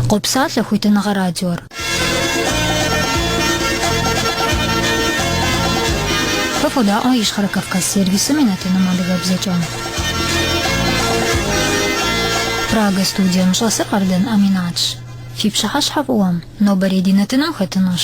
Къопсалъэ хуитыныгъэ радиор. Фэ фодаӏуэ Ищхъэрэ Кавказ сервисым и нэтыным адыгэбзэкӏэ. Прага студием щӏэсыр Къардэн Аминатщ. Фи пщыхьэщхьэ фӏыуэм, нобэрей ди нэтыным хэтынущ.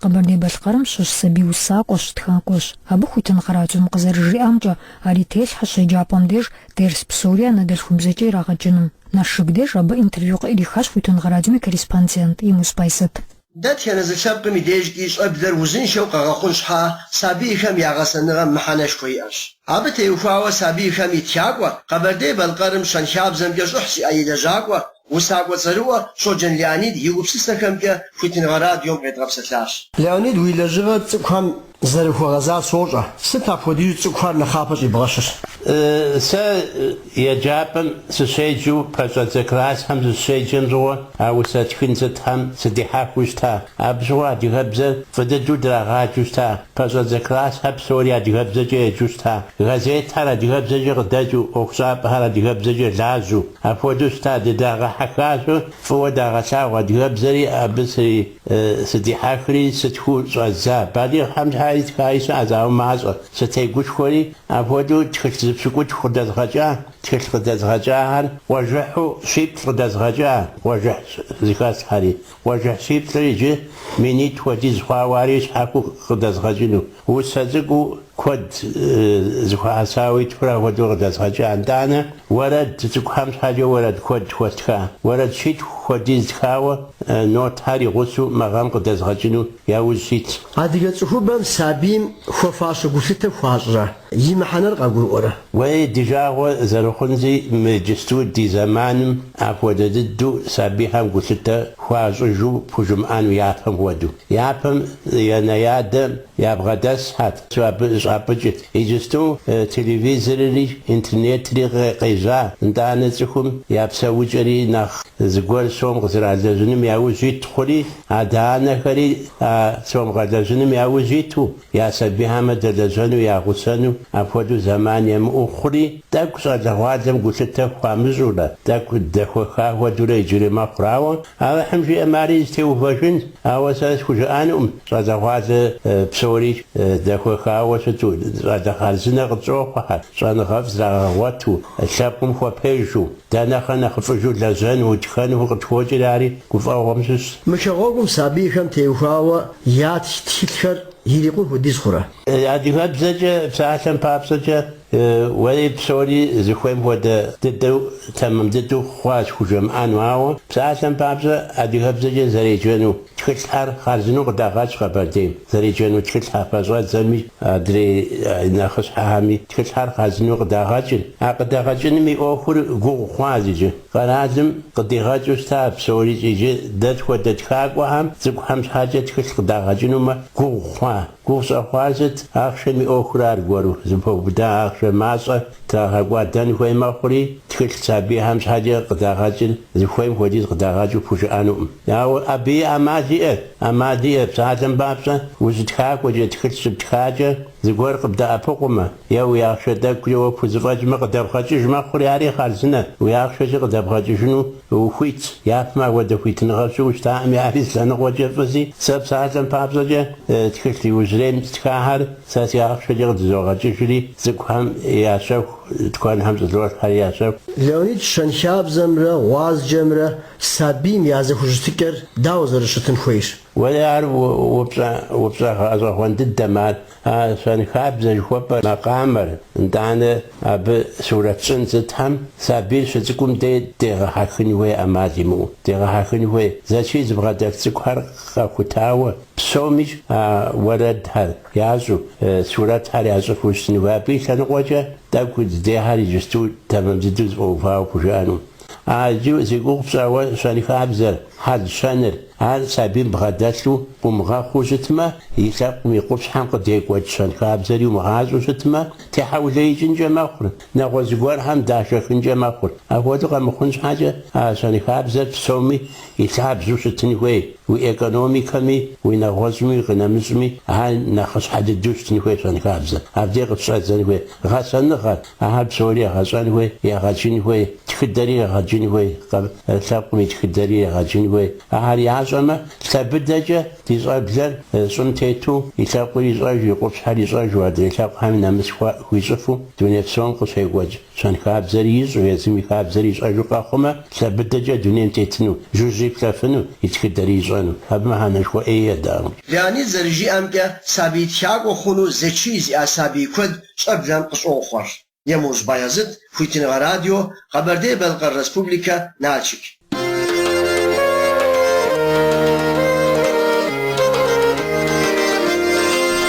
Къэбэрдей-Балъкъэрым щыщ сабий усакӏуэщ, тхакӏуэщ. Абы Хуитыныгъэ радиом къызэрыжриӏамкӏэ, ар и телъхьэщ еджапӏэм деж дерс псори анэдэлъхубзэкӏэ ирагъэджыным. Налшык деж абы интервью къыӏрихащ Хуитыныгъэ радиом и корреспондент Емуз Байзэт. Дэтхэнэ зы лъэпкъым и дежкӏи щӏэблэр узыншэу къэгъэхъун щхьа сабийхэм я гъэсэныгъэм мыхьэнэшхуэ иӏэщ. Абы теухуауэ сабийхэм и тхакӏуэ, Къэбэрдей-Балъкъэрым щэнхабзэмкӏэ щӏыхь зиӏэ и лэжьакӏуэ, Усакӏуэ цӏэрыӏуэ Щоджэн Леонид и гупсысэхэмкӏэ Хуитыныгъэ радиом къедгъэпсэлъащ. Леонид, уи лэжьыгъэр цӏыкӏухэм зэрыхуэгъэзар сощӏэ. Сыт апхуэдизу цӏыкӏухэр нэхъапэ щӏибгъэщыр? Сэ еджапӏэм сыщеджэу пэщӏэдзэ классхэм сыщеджэм щыгъуэ а усэ тхын сытхэм сыдихьэхыу щыта. Абы щыгъуэ адыгэбзэр фӏы дыдэу драгъаджэу щыта. Пэщӏэдзэ классхэр псори адыгэбзэкӏэ еджэу щыта, газетхэр адыгэбзэкӏэ къыдэкӏыу, ӏуэхущӏапӏэхэр адыгэбзэкӏэ лажьэу. Апхуэдэу щыта, дыдагъэхьэхащу, фӏыуэ дагъэлъагъу адыгэбзэри абы сэри сыдихьэхри сытхэу щӏэздза. Балигъхэм щхьэи тхаи щыӏэ, ауэ мащӏэ, сытегушхуэри, апхуэдэу тхылъ зы пщыкӏутху къыдэзгъэкӏа, тхылъ къыдэзгъэкӏахэр къуажэхьу щиплӏ къыдэзгъэкӏа къуажэхь зыхэслъхьэри. Къуажэхь щиплӏыр иджы минитӏ хуэдиз хъуауэ ари щхьэхуэу къыдэзгъэкӏыну. Усэ цӏыкӏуу куэд зыхуэхьэсауэ итхурэ ахуэдэу къыдэзгъэкӏа. Нтӏанэ уэрэд цӏыкӏухэм щхьэкӏэ уэрэд куэд хуэстха. Уэрэд щитху хуэдиз тхауэ нотхэр игъусэу мы гъэм къыдэзгъэкӏыну яужь ситщ. Адыгэ цӏыхубэм сабийм хуэфащэ гулъытэ хуащӏрэ? И мыхьэнэр къагурыӏуэрэ? Уей, ди жагъуэ зэрыхъунзи, мы иджысту ди зэманым апхуэдэ дыдэу сабийхэм гулъытэ хуащӏыжу пхужымыӏэну япэм хуэдэу. Япэм янэ-ядэ ябгъэдэсхьэт, абы щӏапӏыкӏырт. Иджысту телевизорри интернетри къежьа, нтӏанэ цӏыхум я псэукӏэри нэхъ зыгуэр сом къызэралэжьыным яужь ит хъури, адэ-анэхэри а сом къэлэжьыным яужь иту, Я сабийхэмэ дэлэжьэну, ягъусэну апхуэдэу зэман емыӏэу хъури, тӏэкӏу щӏалэгъуалэм гулъытэ хуамыщӏурэ, тӏэкӏу дэхуэха хуэдэурэ иджыри мэхъур. Ауэ Алыхьым жиӏэм ари зытеувэжынщ. Ауэ сэ схужыӏэнукъым щӏалэгъуалэ псори дэхуэхауэ щыту, щӏалэ хъарзынэ къытщӏохъухьэ, щӏэныгъэфӏ зрагъэгъуэту, лъэпкъым хуэпежу. Дэ нэхъри нэхъыфӏыжу лэжьэну, утхэну къытхуокӏри ари гуфӏэгъуэм щыщщ. Мы шагъуэгум сабийхэм теухуауэ ятх тхылъхэр ирикъун хуэдиз хъурэ? Адыгэбзэкӏэ псалъэм папщӏэкӏэ, уэри псори зыхуейм хуэдэ дыдэу, тэмэм дыдэу хъуащ пхужымыӏэну, ауэ псалъэм папщӏэ адыгэбзэкӏэ зэреджэну тхылъхэр хъарзынэу къыдагъэкӏ Къэбэрдейм. зэреджэну тхылъхьэ пэщӏэдзэми, адрей нэхъыщхьэхэми тхылъхьэр хъарзынэу къыдагъэкӏыр. А къыдэгъэкӏыным и ӏуэхур гугъу хъуащ иджы. Къэралым къыдигъэкӏыу щыта псори иджы дэ тхуэдэ тхакӏуэхэм цӏыкӏухэм щхьэкӏэ тхылъ къыдагъэкӏынумэ гугъу хъуа? Гугъу щӏэхъуар сыт? Ахъшэм и ӏуэхур аргуэру, зыпэубыда ахъшэ мащӏэ трагъэкӏуэдэн хуей мэхъури, тхылъ сабийхэм щхьэкӏэ къыдагъэкӏыр зыхуейм хуэдиз къыдагъэкӏыу пхужыӏэнукъым. Ауэ абы и ӏэмал иӏэщ. ӏэмал иӏэщ, псалъэм папщӏэ, ущытхакӏуэкӏэ, тхылъ щыптхакӏэ, зыгуэр къыбдэӏэпыкъумэ, е уи ахъшэ тӏэкӏукӏэ уэ пхузэфӏэкӏмэ къыдэбгъэкӏыж мэхъури ари хъарзынэщ, уи ахъшэкӏэ къыдэбгъэкӏыжыну ухуитщ, япэм апхуэдэ хуитыныгъэ щыӏэу щытаӏыми ари зы лъэныкъуэкӏэ фӏыщи, сэ псалъэм папщӏэкӏэ, тхылъ иужьрейм стхахьэр сэ си ахъшэкӏэ къыдызогъэкӏыжри, цӏыкӏухэм ящэху, тыкуэнхэм щӏызолъхьэри ящэху. Леонид щэнхабзэмрэ гъуазджэмрэ Сабийм я зэхущытыкӏэр дауэ зэрыщытын хуейщ? Уэри ар упщӏэ, упщӏэ гъэщӏэгъуэн дыдэм ар. А щэнхабзэ жыхуэпӏэр макъамэр, нтӏанэ, абы сурэтщӏын сытхьэм, сабийр щыцӏыкӏум дей дегъэхьэхын хуей ӏэмал имыӏэу. Дегъэхьэхын хуей, зэчий зыбгъэдэлъ цӏыкӏухэр къэхутауэ, псомищ а уэрэдхэр ящӏэу, сурэтхэр ящӏыфу щытын хуей. Абы и лъэныкъуэкӏэ тӏэкӏу здехьэр иджысту тэмэм дыдэу зэфӏэувауэ пхужыӏэну. А иджы зи гугъу пщӏауэ щэнхабзэр, хьэл-щэныр, ар сабийм бгъэдэлъу къыумыгъэхъуу щытмэ, и лъэпкъым и къупщхьэм къыдекӏуэкӏ щэнхабзэри умыгъащӏэу щытмэ, техьэулеикӏынкӏэ мэхъур, нэгъуэщӏ гуэрхэм дашэхынкӏэ мэхъур. Апхуэдэу къэмыхъун щхьэкӏэ а щэнхабзэр псоми и лъабжьэу щытын хуей, уи экономикэми, уи нэгъуэщӏми, уи къынэмыщӏми ар нэхъыщхьэ дыдэу щытын хуей щэнхабзэр. Абдей къыщыщӏэдзэн хуей гъэсэныгъэр. Ахэр псори егъэщӏэн хуей, егъэджын хуей, тхыдэри егъэджын хуей, къэ лъэпкъым и тхыдэри егъэджын хуей. Ахэр ящӏэмэ, лъэ быдэкӏэ ди щӏэблэр щӏым тету, и лъэпкъыр ищӏэжу, и къупщхьэр ищӏэжу, адрей лъэпкъхэми нэмыс хуищӏыфу, дуней псом къыщекӏуэкӏ щэнхабзэри ищӏэу, езым и хабзэри ищӏэжу къэхъумэ, лъэ быдэкӏэ дунейм тетыну, жыжьи плъэфыну, и тхыдэри ищӏэну. Абы мыхьэнэшхуэ ӏей едаӏым. Леонид зэрыжиӏэмкӏэ, сабий тхакӏуэ хъуну зэчий зиӏэ сабий куэд щӏэблэм къыщӏохъуэр. Емуж Баязыт, Хуитыныгъэ радио, Къэбэрдей-Балъкъэр Республикэ, Налшык.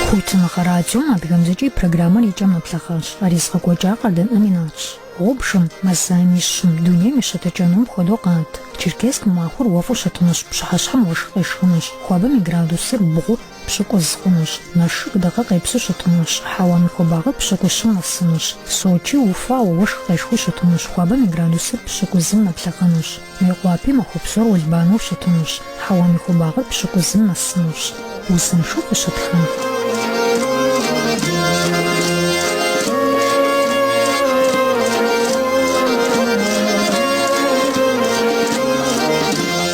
Хуитыныгъэ радиом адыгэбзэкӏэ и программэр и кӏэм нэблэгъащ. Ар езыгъэкӏуэкӏар Къардэн Аминатщ. Гъубжым, мазаем и щым, дунейм и щытыкӏэнур мыпхуэдэу къат. Черкесск махуэр уэфӏу щытынущ, пщыхьэщхьэм уэшх къешхынущ, хуабэм и градусыр бгъу, пщыкӏуз хъунущ. Налшык дыгъэ къепсу щытынущ. Хьэуам и хуабагъыр пщыкӏущым нэсынущ. Сочи уфауэ, уэшх къешхыу щытынущ. Хуабэм и градусыр пщыкӏузым нэблэгъэнущ. Мейкъуапи махуэ псор уэлбанэу щытынущ. Хьэуам и хуабагъыр пщыкӏузым нэсынущ. Узыншэу фыщытхэ.